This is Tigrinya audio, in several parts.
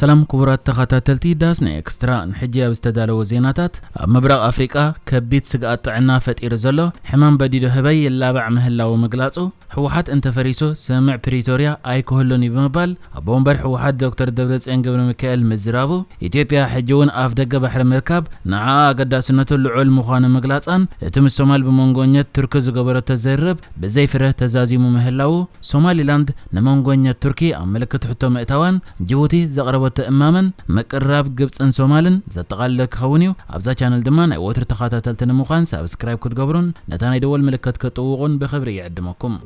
ሰላም ክቡራት ተኸታተልቲ ዳስ ናይ ኤክስትራ፣ ንሕጂ ኣብ ዝተዳለወ ዜናታት፣ ኣብ ምብራቕ ኣፍሪቃ ከቢድ ስግኣት ጥዕና ፈጢሩ ዘሎ ሕማም በዲዶ ህበይ ይላባዕ ምህላዉ ምግላጹ፣ ህወሓት እንተፈሪሱ ስምምዕ ፕሪቶርያ ኣይክህሉን'ዩ ብምባል ኣቦ ወንበር ህወሓት ዶክተር ደብረጽዮን ገብረሚካኤል ምዝራቡ፣ ኢትዮጵያ ሕጂ'ውን ኣፍደገ ባሕሪ ምርካብ ንዓኣ ኣገዳስነቱ ልዑል ምዃኑ ምግላጻን እቲ ምስ ሶማል ብመንጎኘት ቱርኪ ዝገበረቶ ዝርርብ ብዘይ ፍረ ተዛዚሙ ምህላዉ፣ ሶማሊላንድ ንመንጎኘት ቱርኪ ኣብ ምልክት ሕቶ ምእታዋን፣ ጅቡቲ ዘቕረበቶ እማመን፣ ምቅርራብ ግብጽን ሶማልን ዘጠቓለለ ክኸውን እዩ። ኣብዛ ቻነል ድማ ናይ ወትሩ ተኻታተልቲ ንምዃን ሳብስክራይብ ክትገብሩን ነታ ናይ ደወል ምልክት ክትጥውቑን ብኽብሪ ይዕድመኩም።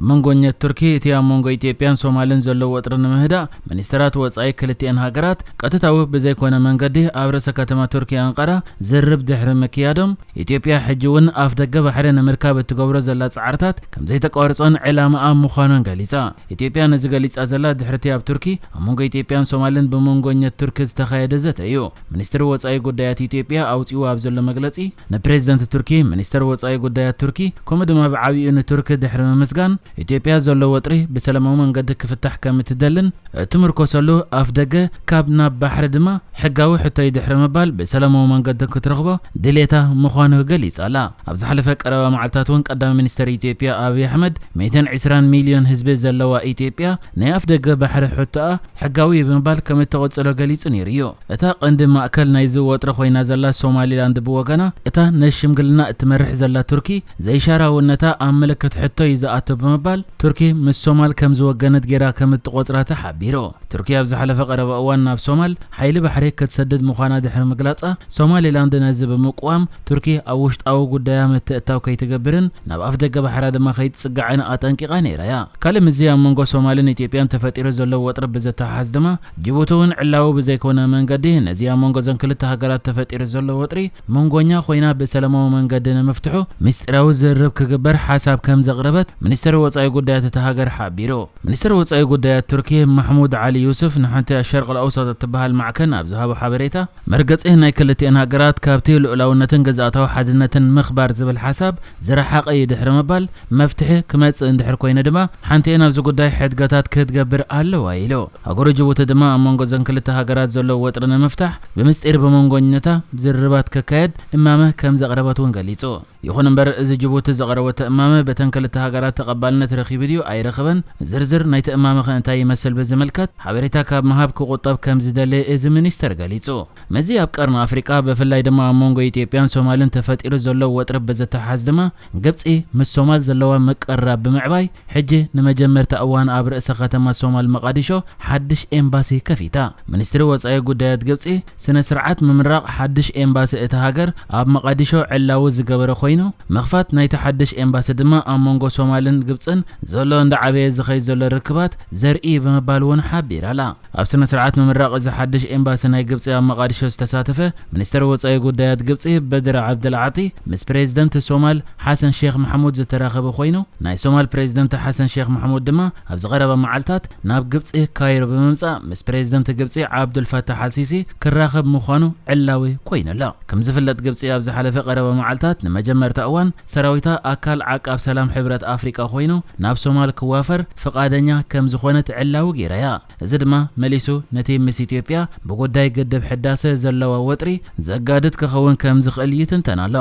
መንጎኘት ቱርኪ እቲ ኣብ መንጎ ኢትዮጵያን ሶማልን ዘሎ ወጥሪ ንምህዳእ ሚኒስተራት ወጻኢ ክልቲኤን ሃገራት ቀጥታዊ ብዘይኮነ መንገዲ ኣብ ርእሰ ከተማ ቱርኪ ኣንቃራ ዝርርብ ድሕሪ ምክያዶም ኢትዮጵያ ሕጂ'ውን ኣፍደገ ባሕሪ ንምርካብ እትገብሮ ዘላ ጻዕርታት ከምዘይተቋርጾን ዕላማኣ ምዃኑን ገሊጻ። ኢትዮጵያ ነዚ ገሊጻ ዘላ ድሕሪ'ቲ ኣብ ቱርኪ ኣብ መንጎ ኢትዮጵያን ሶማልን ብመንጎኘት ቱርኪ ዝተኻየደ ዘተ እዩ። ሚኒስትሪ ወጻኢ ጉዳያት ኢትዮጵያ ኣውጺኡ ኣብ ዘሎ መግለጺ፣ ንፕሬዚደንት ቱርኪ፣ ሚኒስተር ወጻኢ ጉዳያት ቱርኪ ከምኡ ድማ ብዓቢኡ ንቱርክ ድሕሪ ምምስጋን፣ ኢትዮጵያ ዘሎ ወጥሪ ብሰለማዊ መንገዲ ክፍታሕ ከም እትደልን እትምርኮሰሉ ኣፍደገ ካብ ናብ ባሕሪ ድማ ሕጋዊ ሕቶይ ድሕሪ ምባል ብሰለማዊ መንገዲ ክትረኽቦ ድሌታ ምዃኑ ገሊጻ ኣላ። ኣብ ዝሓለፈ ቀረባ መዓልታት እውን ቀዳማይ ሚኒስተር ኢትዮጵያ ኣብይ ኣሕመድ ሚእትን ዕስራን ሚልዮን ህዝቢ ዘለዋ ኢትዮጵያ ናይ ኣፍደገ ባሕሪ ሕቶኣ ሕጋዊ ብምባል ከም እተቐጽሎ ገሊጹ ነይሩ እዩ። እታ ቀንዲ ማእከል ናይዚ ወጥሪ ኮይና ዘላ ሶማሊላንድ ብወገና፣ እታ ነዚ ሽምግልና እትመርሕ ዘላ ቱርኪ ዘይሻራውነታ ኣብ ምልክት ሕቶ እዩ ዝኣቱ ብምባል ቱርኪ ምስ ሶማል ከም ዝወገነት ገይራ ከም እትቖጽራ ተሓቢሩ። ቱርኪ ኣብ ዝሓለፈ ቀረባ እዋን ናብ ሶማል ሓይሊ ባሕሪ ክትሰድድ ምዃና ድሕሪ ምግላጻ፣ ሶማሊላንድ ነዚ ብምቅዋም፣ ቱርኪ ኣብ ውሽጣዊ ጉዳያ ምትእትታው ከይትገብርን ናብ ኣፍደገ ባሕራ ድማ ከይትጽጋዕን ኣጠንቂቓ ነይራ'ያ። ካልእ ምስዚ ኣብ መንጎ ሶማልን ኢትዮጵያን ተፈጢሩ ዘሎ ወጥሪ ብዝተሓሓዝ ድማ፣ ጅቡቲ'ውን ዕላዊ ብዘይኮነ መንገዲ ነዚ ኣብ መንጎ'ዘን ክልተ ሃገራት ተፈጢሩ ዘሎ ወጥሪ መንጎኛ ኮይና ብሰለማዊ መንገዲ ንምፍትሑ ምስጢራዊ ዝርርብ ክግበር ሓሳብ ከምዘቕረበት ሚኒስተር ወጻኢ ጉዳያት እታ ሃገር ሓቢሩ። ሚኒስተር ወጻኢ ጉዳያት ቱርኪ ማሕሙድ ዓሊ ዩሱፍ ንሓንቲ ኣሸርቅልኣውሳጥ እትበሃል ማዕከን ኣብ ዝሃቦ ሓበሬታ፣ መርገጺ ናይ ክልቲኤን ሃገራት ካብቲ ልኡላውነትን ግዝኣታዊ ሓድነትን ምኽባር ዝብል ሓሳብ ዝረሓቐ'ዩ ድሕሪ ምባል፣ መፍትሒ ክመጽእ እንድሕር ኮይኑ ድማ ሓንቲኤን ኣብዚ ጉዳይ ሕድገታት ክትገብር ኣለዋ ኢሉ። ሃገረ ጅቡቲ ድማ ኣብ መንጎ እዘን ክልተ ሃገራት ዘሎ ወጥሪ ንምፍታሕ ብምስጢር ብመንጎኝነታ ዝርርባት ክካየድ እማመ ከምዘቕረበት'ውን ገሊጹ። ይኹን እምበር እዚ ጅቡቲ ዘቐረበቶ እማመ በተን ክልተ ሃገራት ተቐባልነት ረኺቡ ድዩ ኣይረኸበን፣ ዝርዝር ናይቲ እማመኸ እንታይ ይመስል ብዝምልከት ሓበሬታ ካብ ምሃብ ክቑጠብ ከምዝደለ እዚ ሚኒስተር ገሊጹ። ምስዚ ኣብ ቀርኒ ኣፍሪቃ ብፍላይ ድማ ኣብ መንጎ ኢትዮጵያን ሶማልን ተፈጢሩ ዘሎ ወጥሪ ብዝተሓሓዝ ድማ ግብጺ ምስ ሶማል ዘለዋ ምቅርራብ ብምዕባይ ሕጂ ንመጀመርታ እዋን ኣብ ርእሰ ከተማ ሶማል መቓዲሾ ሓድሽ ኤምባሲ ከፊታ። ሚኒስትሪ ወጻኢ ጉዳያት ግብጺ ስነ ስርዓት ምምራቕ ሓድሽ ኤምባሲ እታ ሃገር ኣብ መቓዲሾ ዕላዊ ዝገበረ ኮይኑ፣ ምኽፋት ናይቲ ሓድሽ ኤምባሲ ድማ ኣብ መንጎ ሶማልን ግብጽን ዘሎ እንዳዓበየ ዝኸይድ ዘሎ ርክባት ዘርኢ'ዩ ብምባል'ውን ሓቢራ'ላ። ኣብ ስነ-ስርዓት ምምራቕ እዚ ሓድሽ ኤምባሲ ናይ ግብጺ ኣብ መቓዲሾ ዝተሳተፈ ሚኒስተር ወጻኢ ጉዳያት ግብጺ በድር ዓብደልዓጢ ምስ ፕሬዝደንት ሶማል ሓሰን ሼኽ ማሕሙድ ዝተራኸበ ኮይኑ፣ ናይ ሶማል ፕሬዝደንት ሓሰን ሼኽ ማሕሙድ ድማ ኣብዚ ቀረባ መዓልታት ናብ ግብጺ ካይሮ ብምምጻእ ምስ ፕሬዝደንት ግብጺ ዓብዱል ፋታሕ ኣልሲሲ ክራኸብ ምዃኑ ዕላዊ ኮይኑ ኣሎ። ከምዝፍለጥ ግብጺ ኣብ ዝሓለፈ ቀረባ መዓልታት ንመጀመርታ እዋን ሰራዊታ ኣካል ዓቃብ ሰላም ሕብረት ኣፍሪቃ ኮይኑ ናብ ሶማል ክዋፈር ፍቓደኛ ከምዝኾነት ዕላዊ ገይራ'ያ። እዚ ድማ መሊሱ ነቲ ምስ ኢትዮጵያ ብጉዳይ ግድብ ሕዳሰ ዘለዋ ወጥሪ ዘጋድድ ክኸውን ከምዝኽእል ይትንተን ኣሎ።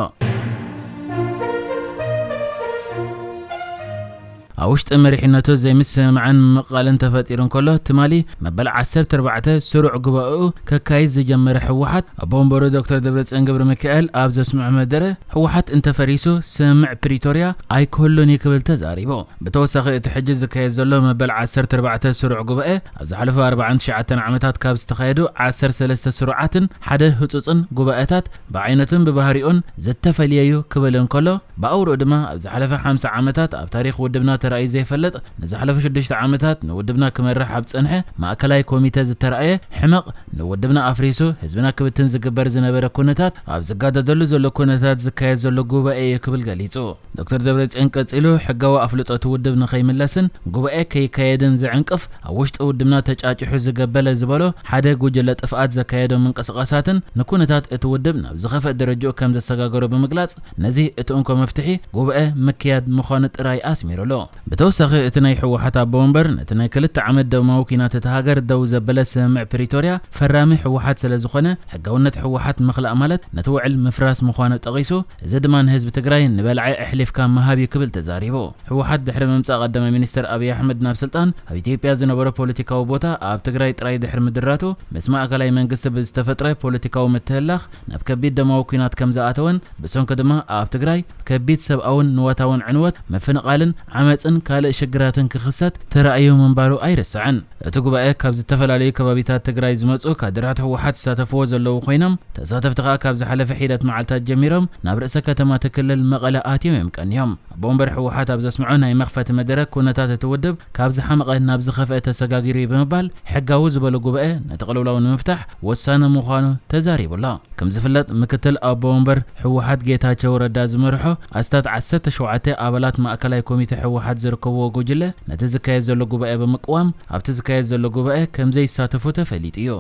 ኣብ ውሽጢ መሪሕነቱ ዘይምስምማዕን ምምቕቓልን ተፈጢሩ እንከሎ፣ ትማሊ መበል ዓሰርተ ኣርባዕተ ስሩዕ ጉባኤኡ ከካይድ ዝጀመረ ህወሓት፣ ኣቦ ወንበሩ ዶክተር ደብረጽዮን ገብረሚካኤል ኣብ ዘስምዖ መደረ፣ ህወሓት እንተፈሪሱ ስምምዕ ፕሪቶርያ ኣይክህሉን እዩ ክብል ተዛሪቡ። ብተወሳኺ እቲ ሕጂ ዝካየድ ዘሎ መበል ዓሰርተ ኣርባዕተ ስሩዕ ጉባኤ፣ ኣብ ዝሓለፉ ኣርባዓን ትሽዓተን ዓመታት ካብ ዝተኻየዱ ዓሰርተ ሰለስተ ስሩዓትን ሓደ ህጹጽን ጉባኤታት ብዓይነቱን ብባህሪኡን ዝተፈልየ'ዩ ክብል እንከሎ፣ ብኣውርኡ ድማ ኣብ ዝሓለፈ ሓምሳ ዓመታት ኣብ ታሪኽ ውድብና ተራእዩ ዘይፈልጥ ንዝሓለፉ ሽዱሽተ ዓመታት ንውድብና ክመርሕ ኣብ ዝጸንሐ ማእከላይ ኮሚተ ዝተራእየ ሕመቕ ንውድብና ኣፍሪሱ ህዝብና ክብትን ዝግበር ዝነበረ ኩነታት ኣብ ዝጋደደሉ ዘሎ ኩነታት ዝካየድ ዘሎ ጉባኤ እዩ ክብል ገሊጹ። ዶክተር ደብረጽዮን ቀጺሉ ሕጋዊ ኣፍልጦ እቲ ውድብ ንኸይምለስን ጉባኤ ከይካየድን ዝዕንቅፍ ኣብ ውሽጢ ውድብና ተጫጪሑ ዝገበለ ዝበሎ ሓደ ጉጅለ ጥፍኣት ዘካየዶም ምንቅስቓሳትን ንኩነታት እቲ ውድብ ናብ ዝኸፍእ ደረጅኡ ከምዘሰጋገሮ ብምግላጽ ነዚ እቲ እንኮ መፍትሒ ጉባኤ ምክያድ ምዃኑ ጥራይ ኣስሚሩሉ። ብተወሳኺ እቲ ናይ ህወሓት ኣቦ ወንበር ነቲ ናይ ክልተ ዓመት ደማዊ ኲናት እታ ሃገር ደው ዘበለ ስምምዕ ፕሪቶርያ ፈራሚ ህወሓት ስለዝኾነ ሕጋውነት ህወሓት ምኽላእ ማለት ነቲ ውዕል ምፍራስ ምዃኑ ጠቒሱ እዚ ድማ ንህዝቢ ትግራይ ንበልዐ ኣሕሊፍካ ምሃብ እዩ ክብል ተዛሪቡ። ህወሓት ድሕሪ ምምጻእ ቀዳማይ ሚኒስተር ኣብይ ኣሕመድ ናብ ስልጣን ኣብ ኢትዮጵያ ዝነበሮ ፖለቲካዊ ቦታ ኣብ ትግራይ ጥራይ ድሕሪ ምድራቱ ምስ ማእከላይ መንግስቲ ብዝተፈጥረ ፖለቲካዊ ምትህልላኽ ናብ ከቢድ ደማዊ ኲናት ከምዝኣተወን ብሰንኩ ድማ ኣብ ትግራይ ከቢድ ሰብኣውን ንዋታውን ዕንወት፣ ምፍንቓልን ዓመጽን ካልእ ሽግራትን ክኽሰት ተራእዩ ምንባሩ ኣይርሳዕን። እቲ ጉባኤ ካብ ዝተፈላለዩ ከባቢታት ትግራይ ዝመጹ ካድራት ህወሓት ዝሳተፍዎ ዘለዉ ኮይኖም፣ ተሳተፍቲ ከኣ ካብ ዝሓለፈ ሒደት መዓልታት ጀሚሮም ናብ ርእሰ ከተማ እቲ ክልል መቐለ ኣትዮም እዮም ቀንዮም። ኣቦ ወንበር ህወሓት ኣብ ዘስምዖ ናይ መኽፈቲ መደረ ኩነታት እቲ ውድብ ካብ ዝሓመቐ ናብ ዝኸፍኤ ተሰጋጊሩ'ዩ ብምባል ሕጋዊ ዝበሎ ጉባኤ ነቲ ቅልውላው ንምፍታሕ ወሳኒ ምዃኑ ተዛሪቡ ኣሎ። ከምዝፍለጥ ምክትል ኣቦ ወንበር ህወሓት ጌታቸው ረዳ ዝመርሖ ኣስታት ዓሰርተ ሸውዓተ ኣባላት ማእከላይ ኮሚቴ ህወሓት ዝርከብዎ ጉጅለ ነቲ ዝካየድ ዘሎ ጉባኤ ብምቅዋም ኣብቲ ዝካየድ ዘሎ ጉባኤ ከምዘይሳተፉ ተፈሊጡ እዩ።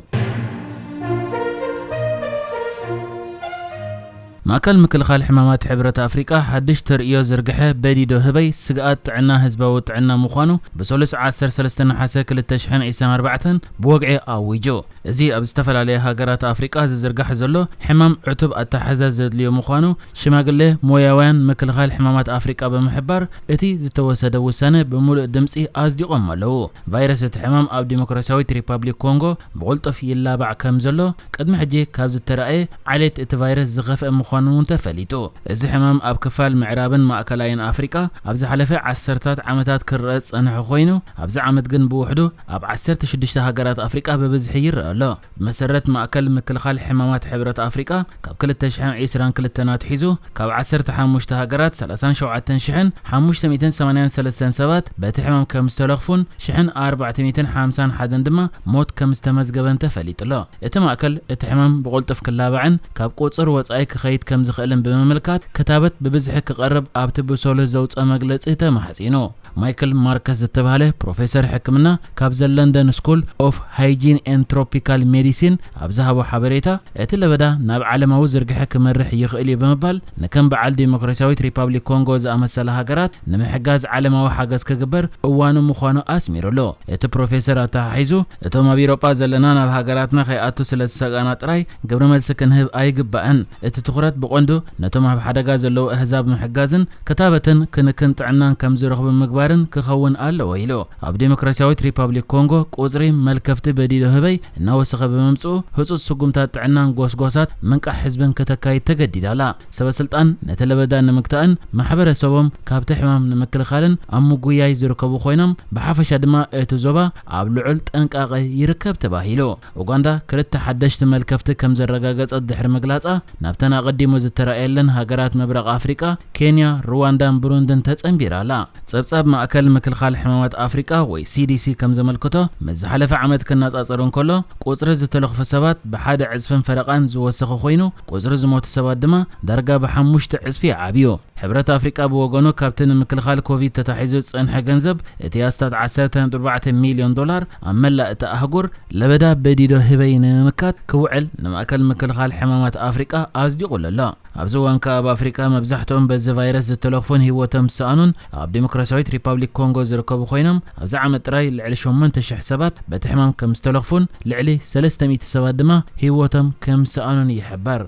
ማእከል ምክልኻል ሕማማት ሕብረት ኣፍሪቃ ሓድሽ ተርእዮ ዝርግሐ በዲዶ ህበይ ስግኣት ጥዕና ህዝባዊ ጥዕና ምዃኑ ብሰሉስ ዓሰርተ ሰለስተ ነሓሰ ክልተ ሽሕን ዒስራን ኣርባዕተን ብወግዒ ኣዊጁ። እዚ ኣብ ዝተፈላለያ ሃገራት ኣፍሪቃ ዝዝርጋሕ ዘሎ ሕማም ዕቱብ ኣተሓሕዛ ዘድልዮ ምዃኑ ሽማግለ ሞያውያን ምክልኻል ሕማማት ኣፍሪቃ ብምሕባር እቲ ዝተወሰደ ውሳነ ብምሉእ ድምጺ ኣጽዲቖሞ ኣለዉ። ቫይረስ እቲ ሕማም ኣብ ዲሞክራስያዊት ሪፓብሊክ ኮንጎ ብቕልጡፍ ይላባዕ ከምዘሎ ቅድሚ ሕጂ ካብ ዝተራእየ ዓሌት እቲ ቫይረስ ዝኸፍኤ ምዃኑ'ውን ተፈሊጡ። እዚ ሕማም ኣብ ክፋል ምዕራብን ማእከላይን ኣፍሪቃ ኣብ ዝሓለፈ ዓሰርተታት ዓመታት ክርኣ ዝጸንሐ ኮይኑ፣ ኣብዚ ዓመት ግን ብውሕዱ ኣብ ዓሰርተ ሽዱሽተ ሃገራት ኣፍሪቃ ብብዝሒ ይርኣ ኣሎ። ብመሰረት ማእከል ምክልኻል ሕማማት ሕብረት ኣፍሪቃ ካብ ክልተ ሽሕን ዕስራን ክልተን ኣትሒዙ ካብ ዓሰርተ ሓሙሽተ ሃገራት ሰላሳን ሸውዓተን ሽሕን ሓሙሽተ ሚእትን ሰማንያን ሰለስተን ሰባት በቲ ሕማም ከምዝተለኽፉን ሽሕን ኣርባዕተ ሚእትን ሓምሳን ሓደን ድማ ሞት ከም ዝተመዝገበን ተፈሊጡ'ሎ። እቲ ማእከል፣ እቲ ሕማም ብቕልጡፍ ክላባዕን ካብ ቁጽጽር ወጻኢ ክኸይድ ከም ዝኽእልን ብምምልካት፣ ክታበት ብብዝሒ ክቐርብ ኣብቲ ብሶሉህ ዘውጽኦ መግለጺ ተማሕጺኑ። ማይክል ማርከስ ዝተባህለ ፕሮፌሰር ሕክምና ካብ ዘ ለንደን ስኩል ኦፍ ሃይጂን ኤንድ ትሮፒካል ሜዲሲን ኣብ ዝሃቦ ሓበሬታ፣ እቲ ለበዳ ናብ ዓለማዊ ዝርግሐ ክመርሕ ይኽእል እዩ ብምባል ንከም በዓል ዴሞክራሲያዊት ሪፓብሊክ ኮንጎ ዝኣመሰላ ሃገራት ንምሕጋዝ ዓለማዊ ሓገዝ ክግበር እዋኑ ምዃኑ ኣስሚሩሉ። እቲ ፕሮፌሰር ኣተሓሒዙ እቶም ኣብ ኢሮጳ ዘለና ናብ ሃገራትና ከይኣቱ ስለ ዝሰጋእና ጥራይ ግብረ መልሲ ክንህብ ኣይግባእን፣ እቲ ትኹረት ብቐንዱ ነቶም ኣብ ሓደጋ ዘለዉ ኣህዛብ ምሕጋዝን ክታበትን ክንክን ጥዕናን ከም ዝረኽቡ ምግባርን ክኸውን ኣለዎ ኢሉ። ኣብ ዴሞክራሲያዊት ሪፓብሊክ ኮንጎ ቁጽሪ መልከፍቲ በዲዶ ህበይ እናወሰኸ ብምምጽኡ፣ ህጹጽ ስጉምታት ጥዕናን ጎስጓሳት ምንቃሕ ህዝብን ከተካይድ ተገዲዳ ኣላ። ሰበስልጣን ነቲ ለበዳ ንምግታእን ማሕበረሰቦም ካብቲ ሕማም ንምክልኻልን ኣብ ምጉያይ ዝርከቡ ኮይኖም፣ ብሓፈሻ ድማ እቲ ዞባ ኣብ ልዑል ጥንቃቐ ይርከብ ተባሂሉ። ኡጋንዳ ክልተ ሓደሽቲ መልከፍቲ ከም ዘረጋገጸት ድሕሪ ምግላጻ፣ ናብተን ኣቐዲሙ ዝተራእየለን ሃገራት ምብራቕ ኣፍሪቃ፣ ኬንያ፣ ርዋንዳን ብሩንድን ተጸንቢራ ኣላ። ጸብጻብ ማእከል ምክልኻል ሕማማት ኣፍሪቃ ወይ ሲዲሲ ከም ዘመልክቶ፣ ምስ ዝሓለፈ ዓመት ክነጻጸር እንከሎ፣ ቁጽሪ ዝተለኽፉ ሰባት ብሓደ ዕጽፍን ፈረቓን ዝወሰኸ ኮይኑ፣ ቁጽሪ ዝሞቱ ሰባት ድማ ዳርጋ ብሓሙሽተ ዕጽፊ ዓብዩ። ሕብረት ኣፍሪቃ ብወገኑ፣ ካብቲ ንምክልኻል ኮቪድ ተታሒዙ ዝጸንሐ ገንዘብ፣ እቲ ኣስታት ዓሰርተ ነጥቢ ኣርባዕተ ሚልዮን ዶላር ኣብ መላእ እታ ኣህጉር፣ ለበዳ በዲዶ-ህበይ ንምምካት ክውዕል ንማእከል ምክልኻል ሕማማት ኣፍሪቃ ኣጽዲቑሉ ኣሎ። ኣብዚ እዋን ከኣ ኣብ ኣፍሪቃ መብዛሕትኦም በዚ ቫይረስ ዝተለኽፉን ህይወቶም ዝሰኣኑን ኣብ ዴሞክራሲያዊት ሪፓብሊክ ኮንጎ ዝርከቡ ኮይኖም ኣብዚ ዓመት ጥራይ ልዕሊ ሸሞንተ ሽሕ ሰባት በቲ ሕማም ከም ዝተለኽፉን ልዕሊ ሰለስተ ሚእቲ ሰባት ድማ ህይወቶም ከም ዝሰኣኑን ይሕበር።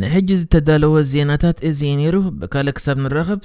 ንሕጂ ዝተዳለወ ዜናታት እዚ እዩ ነይሩ። ብካልእ ክሳብ ንራኸብ።